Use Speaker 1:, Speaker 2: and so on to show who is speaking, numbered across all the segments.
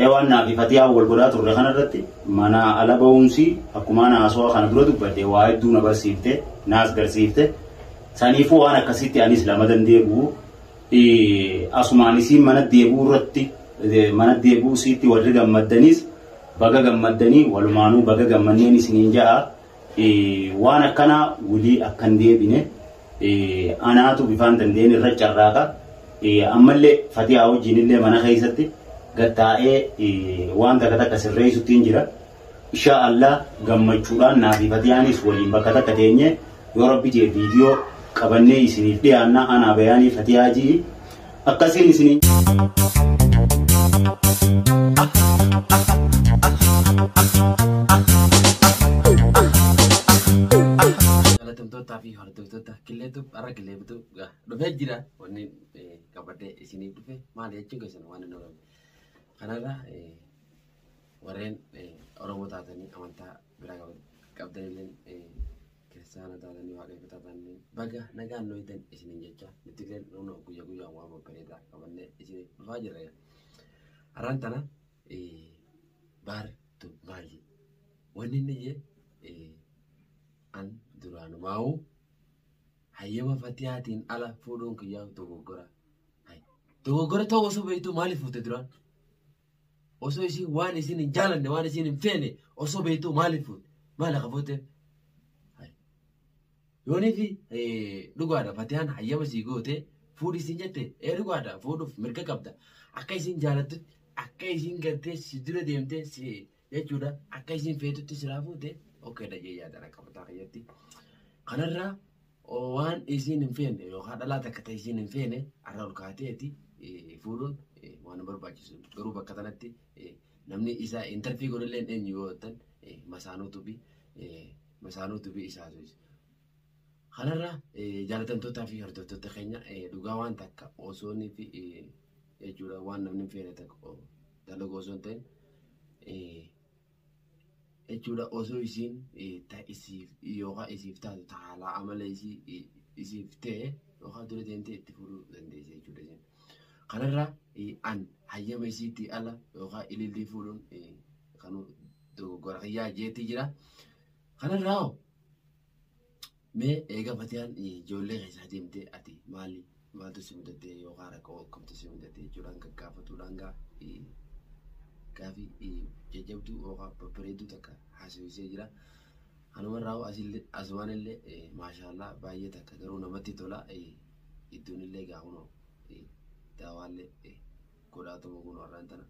Speaker 1: Ewaan naafi fatiyaan wal godhaa turre kana irratti manaa ala ba'uunsii akkumaan haasawaa kana dura dubbadhe waa hedduu na barsiifte naas garsiifte saniifuu waan akkasitti anis lamadan deebi'u asumaan isiin mana deebi'uu irratti mana deebi'uu isiitti warri gammaddaniis baga gammaddanii walumaanuu baga gammanneen isiniin ja'a Waan akkanaa wlii akka hin deebine anaatu bifaan danda'een irra carraaqa. Ammallee Fatiyaa wajjiinillee mana keessatti gad taa'ee waan takka takka sirreessuttiin jira. Inshaa Allah gammachuudhaan naa fi Fatiyaanis waliin bakka takka teenyee yoo rabbi jee viidiyoo qabannee isiniif dhiyaanna anaa bayaanii Fatiyaa ji'i. Akkasiin
Speaker 2: isinii. Galatamtootaa fi hordoftoota killeetu har'a killee bituu dhufee jira wanni qabadee isiniif dhufe maali jechuun keessan waan hin oolame. Kanarra warreen Oromoo taatanii amantaa biraa qabdanillee Kiristaana taatanii waaqeffataa taatanii baga nagaan nu eegdan isiniin jecha nuti illee nuunoo guyyaa guyyaan waan babbareedaa qabannee isin dhufaa jirra. Har'aan tana baartu maali? Wanni inni jee an duraanumaa'uu hayyama fatiyaatiin ala fuudhuun kiyyaa dogoggora. Dogoggora ta'uu osoo beektuu maaliif fuute duraan? osoo isiin waan isiin hin jaalanne waan isiin hin feene osoo beektuu maaliif fuute maal akka fuute yooniif dhugaadha fatiyaan hayyama sii goote fuudhi isiin jette ee dhugaadha fuudhuuf mirga qabda akka isiin jaalattutti akka isiin gartee si dura deemtee si jechuudha akka isin feetutti silaa fuute okeedha jee yaadan akka mataa kiyyatti kanarraa waan isiin hin feene yookaan dhalaa takka ta'e isiin hin feene arra ol kaateeti fuudhuun waan hin barbaachisu garuu bakka tanatti namni isaa intarfii godhallee eenyu yoo ta'an masaanuutu fi masaanuutu fi isaatu Kanarra jaalatamtootaa fi hordoftoota keenya dhugaa waan takka osoo nuti jechuudha waan namni hin feene takka dalagu osoo hin ta'in jechuudha osoo isiin ta isiif yookaan isiif taatu ta haalaa amala isii isiif ta'e yookaan dura deemtee itti fudhuu dandeessi jechuudha isin. Kanarra an hayyama isiitti ala yookaan ilillii fuudhuun kan dogoggora kiyyaa jeetti jira. Kanarraa hoo mee eega fatiyaan ijoollee keessaa deemtee ati maali maaltu si mudatee yookaan rakkoo akkamtu si mudatee jechuudhaan gaggaafatuudhaan gaa gaafii jajjabduu yookaan babbareedduu takka haasofsiisee jira. Kanumarraa hoo asillee asumaan illee maashaallah baay'ee takka garuu namatti tola iddoon illee gaa kunoo daawaallee godhaa tuma kunoo har'aan tana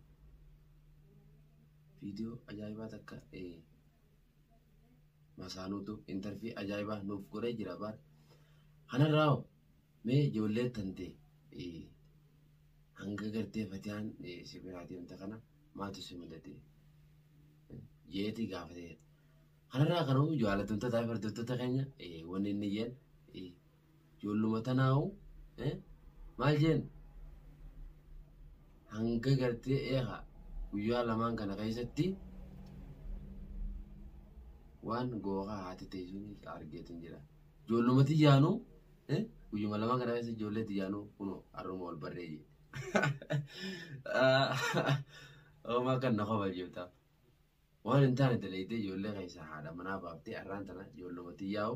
Speaker 2: viidiyoo ajaa'ibaa takka masaanuutu intarfii ajaa'ibaa nuuf godhee jira baar kanarraa hoo mee ijoollee tante eh, hanga gartee fatiyaan eh, si biraa deemte kana maaltu si mudate Eh, jeeti gaafatee kanarraa kan hoo jaallatamtoota fi hordoftoota keenya eh, wanni inni jeen eh, Ijoolluma tanaahu maal jeen hanga gartee eegaa guyyaa lamaan kana keessatti waan googaa haati teessuun argeetiin jira. Ijoolluma tiyyaanu guyyuma lamaan kana keessa ijoollee tiyyaanu kunoo har'uma wal barree jee. Oomaa kan na kofalchiiftaa. Waan hin taane dalaydee ijoollee keessaa haadha manaa baaftee arraan tana ijoolluma tiyyaa'u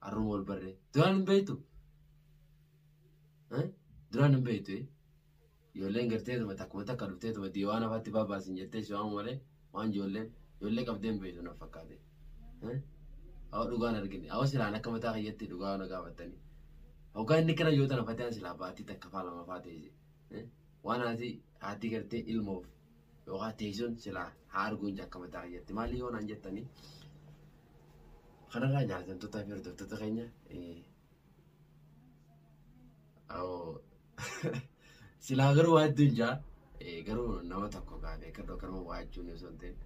Speaker 2: arruma ol barree duraan hin beektu duraan hin beektu ijoolleen garteetuma takkuma takka dhufteetuma dii waan afaatti baabaasin jettee si waamu malee waan ijoolleen ijoollee qabdee hin beektu na fakkaate hawa dhugaan argine hawa silaan akka mataa kiyyatti dhugaa na gaafattanii hoggaa inni kana yoo tana fatiyaan silaa baatii takka faa lama faa ta'e waan haati Haati gartee ilmoof yookaan teessoon silaa haa arguu hin jakkama ta'a jetti. Maali yoo naan jettanii kanarraa jaallatamtootaa fi hordoftoota keenya silaa garuu waa hedduun jaa garuu nama tokko gaafee kan dhokkarma waa jechuun osoo hin ta'in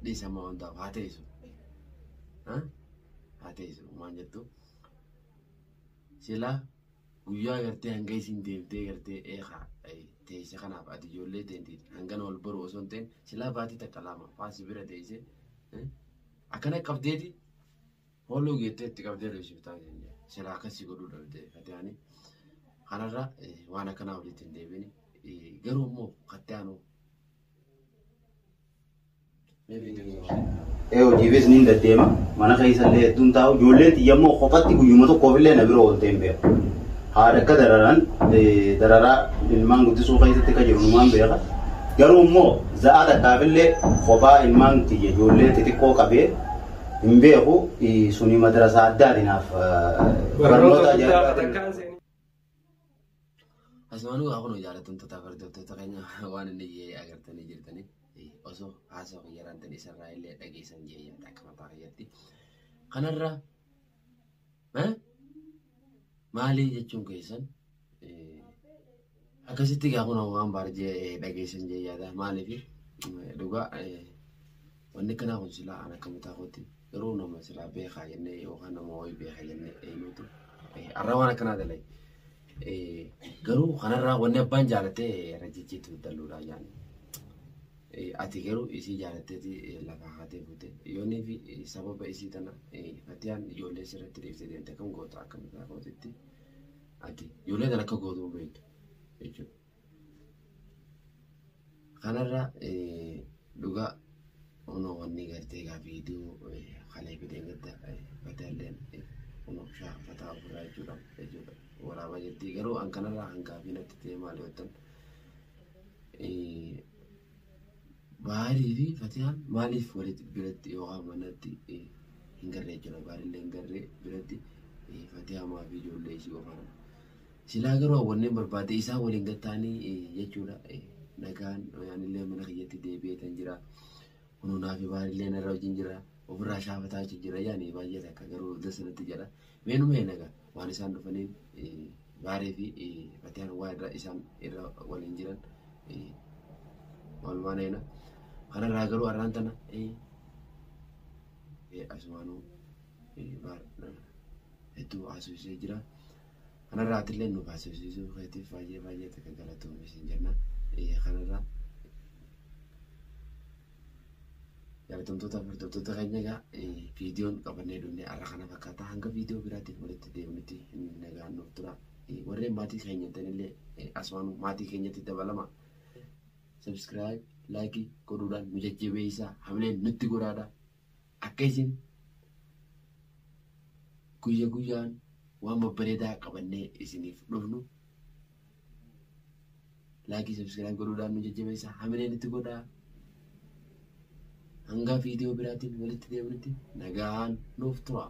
Speaker 2: dhiisama hundaaf haa teessu. Haa teessu maal jettu silaa Guyyaa gartee hanga isiin deemtee gartee eeka teeyse kanaaf ati ijoollee teenti hangana wal baru osoo hin ta'in silaa baatii takka lama faa si bira teeyse akkana qabdeeti hooluu geettee itti qabdee reebsiftaa keenya silaa akkas si godhuu dhabdee fatiyaanii kanarra waan akkanaa walitti hin deebini garuu immoo kattaanuu
Speaker 1: Ee hojiifis niin deddeema. Mana keessa illee hedduun taa'u. Ijoolleen xiyya immoo kophatti guyyuma tokkoof illee na bira ooltee hin beeku. Haadha akka dararan dararaa ilmaan guddisuu keessatti akka jiru numaan beeka. Garuu immoo za'aa takkaaf illee kophaa ilmaan xiyya ijoollee xixiqqoo qabee hin beeku. Suni madrasaa addaati naaf. Barnoota guddaa
Speaker 2: Asumaanuu haa kunoo jaallatamtoota hordoftoota keenya waan inni jee agartanii jirtanii osoo haasoo kiyyaraan tan isarraa illee dhageessan jee yaada akka mataa kiyyatti. Kanarra maalii jechuun keessan Akkasitti egaa kun waan baarjee dhageessan jee yaada maaliif dhugaa wanni kanaa kun silaa aan akka mataa kootti garuu nama silaa beekaa jennee yookaan nama wayii beekaa jennee eenyuutu arraa waan akkanaa dalay garuu kanarraa wanni abbaan jaalatee irra jijjiitu dalluudhaa jaan ati garuu isii jaalatteeti lafa haatee buute yoonii fi sababa isii tana fatiyaan ijoollee sirratti dhiifte deemte kan goota akka mataa kootitti. Ati ijoollee kana akka gootu hin beektu jechuudha. Kanarra dhugaa kunoo wanni gartee egaa viidiyoo kalee fidee gadda badaalleen kunoo shaafataa ofirraa jechuudha jechuudha waraabaa jirti garuu an kanarraa kan gaafii natti ta'e maal yoo ta'an Baarii fi Fatiyaan maaliif walitti biratti yookaan manatti eh, hin garree jechuudha. Baarillee hin garree biratti eh, Fatiyaa maa fi ijoollee isii qofaan. Silaa garuu hawwanneen barbaade isaa waliin gattaanii eh, jechuudha. Eh, Nagaan yaanillee mana kiyyatti deebi'ee tan jira. Hunuunaa fi baarillee narra wajjin jira. Ofirraa shaafataa jechuun jira yaani baay'ee takka garuu dasa natti jedha. Meenuma nagaa waan isaan dhufaniin eh, Gaarii fi Fatiyaan waan irra isaan irra waliin jiran walumaan eena. Kanarraa garuu arraan tana asumaanuu hedduu haasofsiisee jira. Kanarraa atillee nuuf haasofsiisuu keetiif baay'ee baay'ee takka galatoomi siin jenna. Kanarraa Jaalatamtoota fi hordoftoota keenya egaa viidiyoon qabannee dhufne har'a kana fakkaata. Hanga viidiyoo biraatiin walitti deebinutti nagaan nuuf tura. Warreen maatii keenya ta'anillee asumaan maatii keenyatti dabalama. Subscribe, like godhuudhaan nu jajjabeessaa hamileen nutti godhaadha. Akka isin guyya guyyaan waan babbareedaa qabannee isiniif dhufnu laakii sabskiraayib godhuudhaan nu jajjabeessa hamileen itti godhaa hanga viidiyoo biraatiin walitti deebinutti nagaan nuuf turaa.